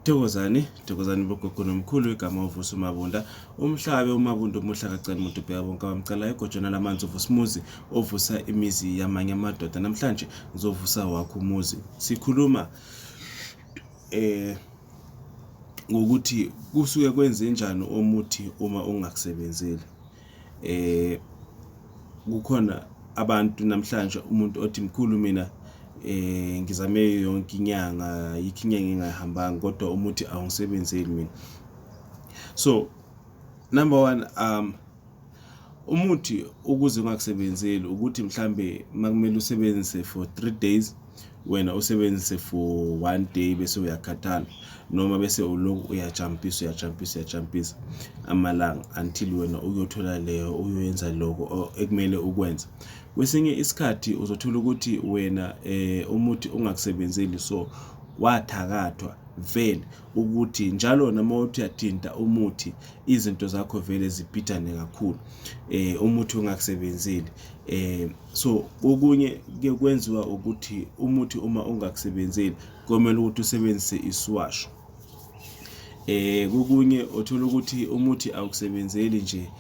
Thokozani, thokozani bogogo nomkhulu igama uvusa umabunda umhlabe umabunda umuhla kacani muntu ubheka bonke abamcalayo egojana lamanzi uvusa umuzi ovusa imizi yamanye amadoda namhlanje ngizovusa wakho umuzi sikhuluma eh ngokuthi kusuke kwenze njani omuthi uma ungakusebenzeli eh kukhona abantu namhlanje umuntu othi mkhulu mina eh ngizame yonke inyanga yikho inyanga engayihambanga kodwa umuthi awungisebenzeli mina so number one um umuthi ukuze ungakusebenzeli ukuthi mhlambe makumele usebenzise for 3 days wena usebenzise for one day bese uyakhathala noma bese ulokhu uyajampisa uyajampisa uyajampisa amalanga until wena uyothola leyo uyoyenza lokho ekumele ukwenze kwesinye isikhathi uzothola ukuthi wena eh umuthi ungakusebenzeli so wathakathwa vele ukuthi njalo noma uthi uyathinta umuthi izinto zakho vele ziphithane kakhulu eh umuthi ungakusebenzeli eh so okunye ke kwenziwa ukuthi umuthi uma ungakusebenzeli komele ukuthi usebenzise isiwasho eh kokunye othola ukuthi umuthi awukusebenzeli nje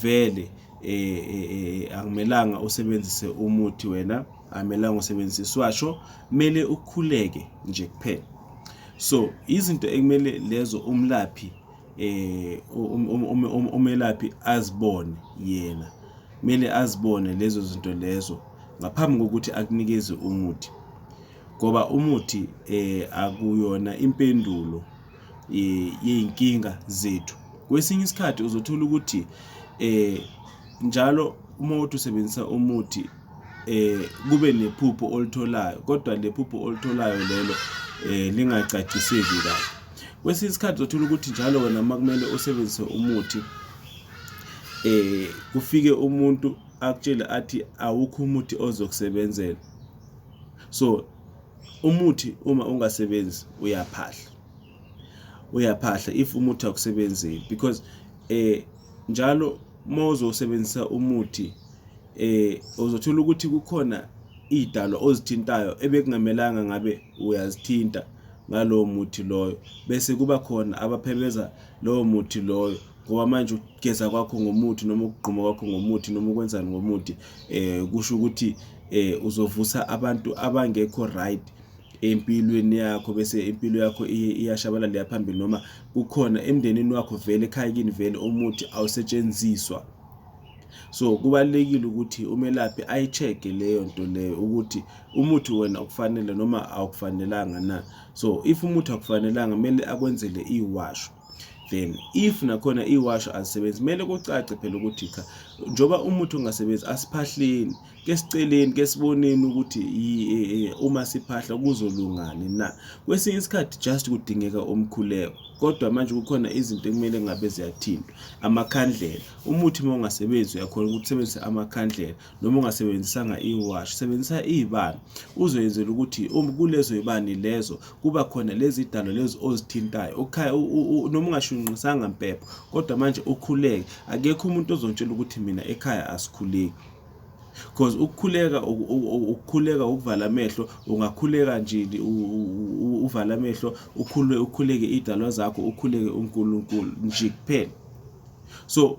vele eh, eh, eh akumelanga usebenzise umuthi wena akumelanga usebenzise isiwasho kumele ukhuleke nje kuphela so izinto ekumele lezo umlaphi eh um, um, um, umelaphi azibone yena kumele azibone lezo zinto lezo ngaphambi kokuthi akunikeze umuthi ngoba umuthi eh akuyona impendulo eh, yeyinkinga zethu kwesinye isikhathi uzothola ukuthi eh njalo uma uthi usebenzisa umuthi eh kube nephupho olitholayo kodwa lephupho olitholayo lelo eh lingacaciseki kahle kwesinye isikhathi uzothola ukuthi njalo wena uma kumele usebenzise umuthi eh kufike umuntu akutshele athi awukho umuthi ozokusebenzela so umuthi uma ungasebenzi uyaphahla uyaphahla if umuthi akusebenzi because eh njalo uma uzosebenzisa umuthi eh uzothola ukuthi kukhona idalo ozithintayo ebekungamelanga ngabe uyazithinta ngalowo muthi loyo bese kuba khona abaphebeza lowo muthi loyo ngoba manje ukugeza kwakho ngomuthi noma ukugquma kwakho ngomuthi noma ukwenzani ngomuthi eh kusho ukuthi eh uzovusa abantu abangekho right empilweni yakho bese impilo yakho iyashabalala leya phambili noma kukhona emndenini wakho vele ekhaya kini vele umuthi awusetshenziswa so kubalekile ukuthi umelaphi ayicheke leyo nto leyo ukuthi umuthi wena ukufanele noma awukufanelanga na so if umuthi akufanelanga kumele akwenzele iwasho then if nakhona iwasho azisebenzi kumele kucace phela ukuthi cha njoba umuthi ungasebenzi asiphahleni ke siceleni ke siboneni ukuthi e, e, uma siphahla kuzolungani na kwesinye isikhathi just kudingeka umkhuleko kodwa manje kukhona izinto ekumele ngabe ziyathintwa amakhandlela umuthi uma ungasebenzi uyakhona ukuthi usebenzise amakhandlela noma ungasebenzisanga iwashi sebenzisa ibani uzoyenzela ukuthi um, kulezo ibani lezo kuba khona lezi dalo lezi ozithintayo noma ungashunqisanga mpepho kodwa manje ukhuleke akekho umuntu ozontshela ukuthi mina ekhaya asikhuleki because ukukhuleka ukukhuleka ukuvala amehlo ungakhuleka nje uvala amehlo ukhulwe ukhuleke idalwa zakho ukhuleke uNkulunkulu nje kuphela so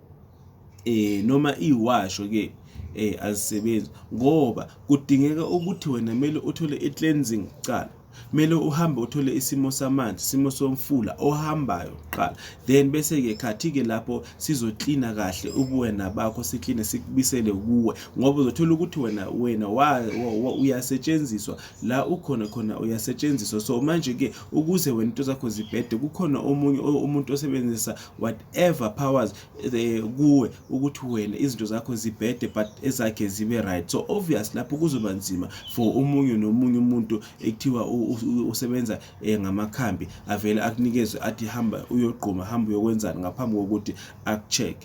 eh noma iwasho ke eh azisebenzi ngoba kudingeka ukuthi wena kumele uthole i-cleansing kuqala kumele uhambe uthole isimo samanzi isimo somfula ohambayo kuqala then bese-ke khathi-ke lapho sizoklina kahle ubuwena bakho sikline sikubisele kuwe ngoba uzothola ukuthi wena wena uyasetshenziswa la ukhona khona uyasetshenziswa so manje-ke ukuze wena into zakho zibhede kukhona omunye umuntu osebenzisa whatever powers eh, kuwe ukuthi wena izinto zakho zibhede but ezakhe zibe right so obvious lapho kuzoba nzima for omunye nomunye umuntu ekuthiwa usebenza eh, ngamakhambi avele akunikeze athi hamba uyogquma hamba uyokwenzani ngaphambi kokuthi akucheck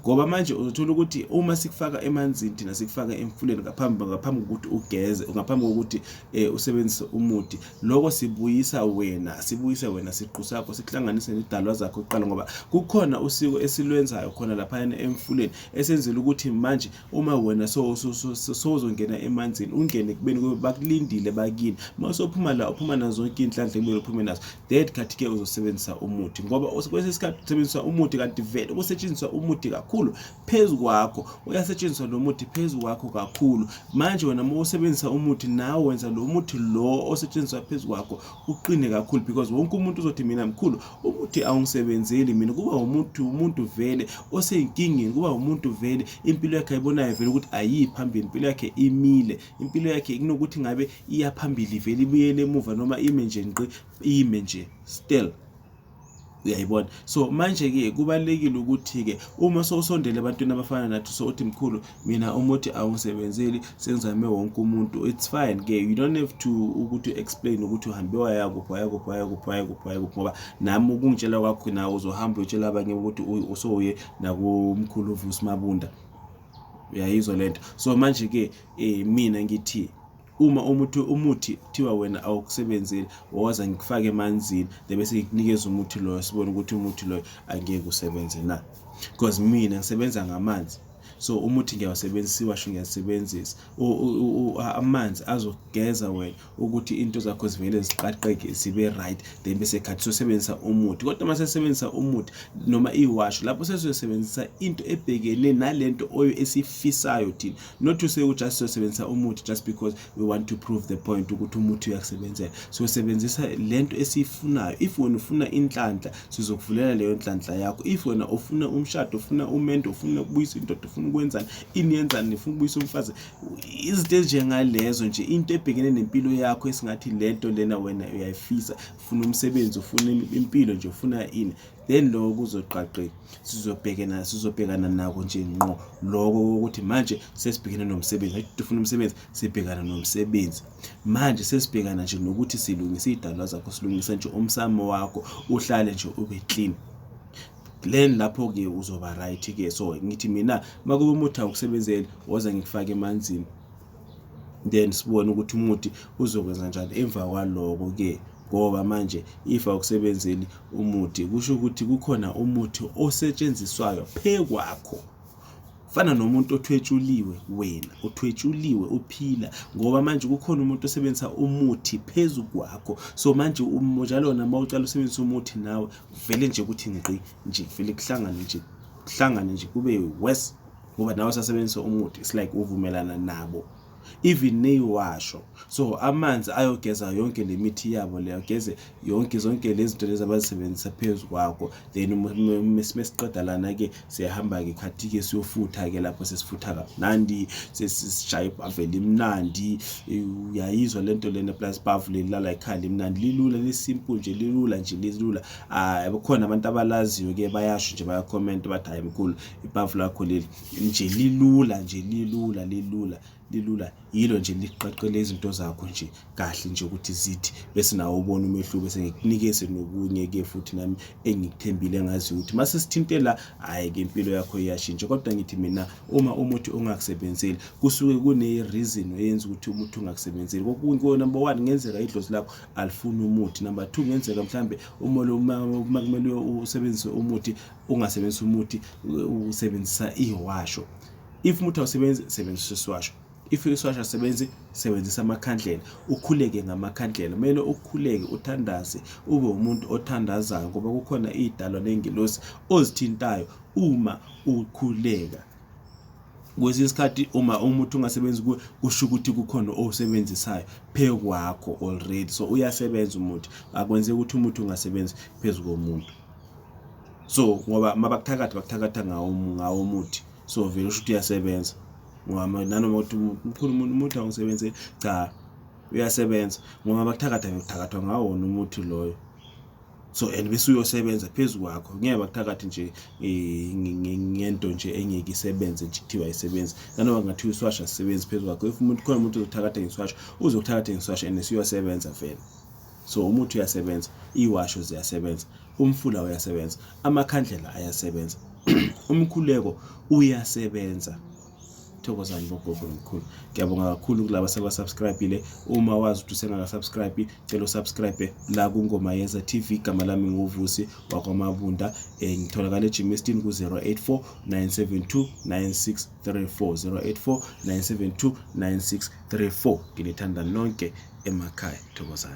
ngoba manje uzothola ukuthi uma sikufaka emanzini thina sikufaka emfuleni ngaphambi ngaphambi kokuthi ugeze ngaphambi kokuthi eh, usebenzise umuthi loko sibuyisa wena sibuyise wena siqu sakho sikuhlanganise nezidalwa zakho kuqala ngoba kukhona usiko esilwenzayo khona laphayana emfuleni esenzela ukuthi manje uma wena sowuzongena emanzini ungene kubeni kube bakulindile bakini uma usophuma la uphuma nazo zonke iy'nhlanhla kumele uphume nazo that khathi-ke uzosebenzisa umuthi ngoba kwesinye isikhathi usebenzisa umuthi kanti vele kusetshenziswa umuthi kakhulu phezu kwakho uyasetshenziswa lo muthi phezu kwakho kakhulu manje wena uma usebenzisa umuthi nawe wenza lo muthi lo osetshenziswa phezu kwakho uqine kakhulu because wonke umuntu uzothi mina mkhulu umuthi awungisebenzeli mina kuba umuntu umuntu vele oseyinkingeni kuba umuntu vele impilo yakhe ayibonayo vele ukuthi ayiyi phambili impilo yakhe imile impilo yakhe kunokuthi ngabe iyaphambili vele ibuyele emuva noma ime nje ngqi ime nje still uyayibona so manje-ke kubalulekile ukuthi-ke uma sowusondele ebantwini abafana nathi so uthi mkhulu mina umuthi awungisebenzeli sengizame wonke umuntu it's fine ke you don't have to ukuthi explain ukuthi uhambe wayakuphi wayakuphi wayakuphi wayakuphi wayakuphi ngoba nami ukungitshela kwakho nawe uzohamba uyotshela abanye ukuthi usowuye nakumkhulu uvusi mabunda uyayizwa le nto so manje-ke um mina ngithi uma umuthi umuthi kuthiwa wena awukusebenzeli woza ngikufake emanzini bebe sekunikeza umuthi loyo sibone ukuthi umuthi loyo angeke usebenze na because mina ngisebenza ngamanzi so umuthi ngiyawusebenzisa iwasho ngiyasebenzisa amanzi azogeza wena ukuthi into zakho zivele ziqaqeke zibe right then bese khathi sosebenzisa umuthi kodwa uma sesebenzisa umuthi noma iwasho lapho sesizosebenzisa into ebhekene nalento oyo esifisayo thina not to say just sosebenzisa umuthi just because we want to prove the point ukuthi umuthi uyakusebenzela sosebenzisa lento esiyifunayo if wena ufuna inhlanhla sizokuvulela leyo nhlanhla yakho if wena ufuna umshado ufuna umendo ufuna ukubuyisa indoda ufuna ukwenzani ini yenzani nifuna ukubuyisa umfazi izinto ezinjengalezo nje into ebhekene nempilo yakho esingathi lento lena wena uyayifisa ufuna umsebenzi ufuna impilo nje ufuna ini then lokho kuzoqaqe sizobhekena sizobhekana nako nje ngqo lokho ukuthi manje sesibhekene nomsebenzi athi ufuna umsebenzi sibhekana nomsebenzi manje sesibhekana nje nokuthi silungise idalwa zakho silungise nje umsamo wakho uhlale nje ube clean then lapho ke uzoba right ke so ngithi mina makube umuthi awukusebenzeli woza ngikufake emanzini then sibone ukuthi umuthi uzokwenza njani emva kwaloko-ke ngoba manje if awukusebenzeli umuthi kusho ukuthi kukhona umuthi osetshenziswayo phekwakho fana nomuntu othwetshuliwe wena uthwetshuliwe uphila ngoba manje kukhona umuntu osebenzisa umuthi phezu kwakho so manje njalo nama ucala usebenzisa umuthi nawe vele nje ukuthi ngqi nje vele kuhlangane nje kuhlangane nje kube worse ngoba nawe sasebenzisa umuthi it's like uvumelana nabo even neyiwasho so amanzi ayogeza yonke le mithi yabo leyo geze yonke zonke lezi zinto lezi abazisebenzisa phezu kwakho then mesiqeda lana-ke siyahamba-ke khathi-ke siyofutha-ke lapho sesifutha kamnandi sesisishaya ibhaveli imnandi uyayizwa le nto lena plus bhavu lelilala ikhanda imnandi lilula lisimple nje lilula nje lilula um khona abantu abalaziyo-ke bayasho nje bayakhomenta bathi hhayi mkhulu ibhavu lakho leli nje lilula nje lilula lilula lilula yilo nje liqaqele izinto zakho nje kahle nje ukuthi zithi bese nawo ubona umehluko sengikunikeze nokunye-ke futhi nami engikuthembile ngaziyo ukuthi uma sesithinte la hhayi-ke impilo yakho iyashintsha kodwa ngithi mina uma umuthi ungakusebenzeli kusuke kune-reason eyenza ukuthi umuthi ungakusebenzeli kokunye number one ngenzeka idlozi lakho alifuni umuthi number two ngenzeka mhlawumbe uma kumele usebenzise umuthi ungasebenzisa umuthi usebenzisa ihwasho if umuthi awusebenzi sebenzisa isiwasho if isiwasho asebenzi sebenzisa amakhandlela ukhuleke ngamakhandlela kumele ukhuleke uthandaze ube umuntu othandazayo ngoba kukhona iy'dalwa ney'ngelosi ozithintayo uma ukhuleka kwesinye isikhathi uma umuthi ungasebenzi kuwe kusho ukuthi kukhona owusebenzisayo phezu kwakho already so uyasebenza umuthi akwenzeki ukuthi umuthi ungasebenzi phezu komuntu so ngoba mabakuthakatha bakuthakatha ngawo ngawo umuthi so vele usho ukuthi uyasebenza ngoba nanoma ukuthi mkhulu umuntu umuthi awusebenze cha uyasebenza ngoba bakuthakatha ngikuthakathwa ngawo wona umuthi loyo so and bese uyosebenza phezu kwakho ngeke bakuthakathi nje eh, ngento nje engeke isebenze nje kuthiwa isebenza nanoma kungathiwa iswasha sisebenzi phezu kwakho if umuntu khona umuntu ozothakatha ngeswasha uzokuthakatha ngeswasha and siyosebenza vele So umuthi uyasebenza, iwasho ziyasebenza, umfula uyasebenza, amakhandlela ayasebenza, umkhuleko uyasebenza. Thokozani bogogo nomkhulu. Ngiyabonga kakhulu kulaba sebasubscribile. Uma wazi ukuthi usengakasubscribe, cela usubscribe la kuNgoma Yenza TV. Igama lami nguVusi wakwaMabunda. Eh ngitholakala eGymestin ku 084 972 9634 084 972 9634. Nginithanda nonke emakhaya. Thokozani.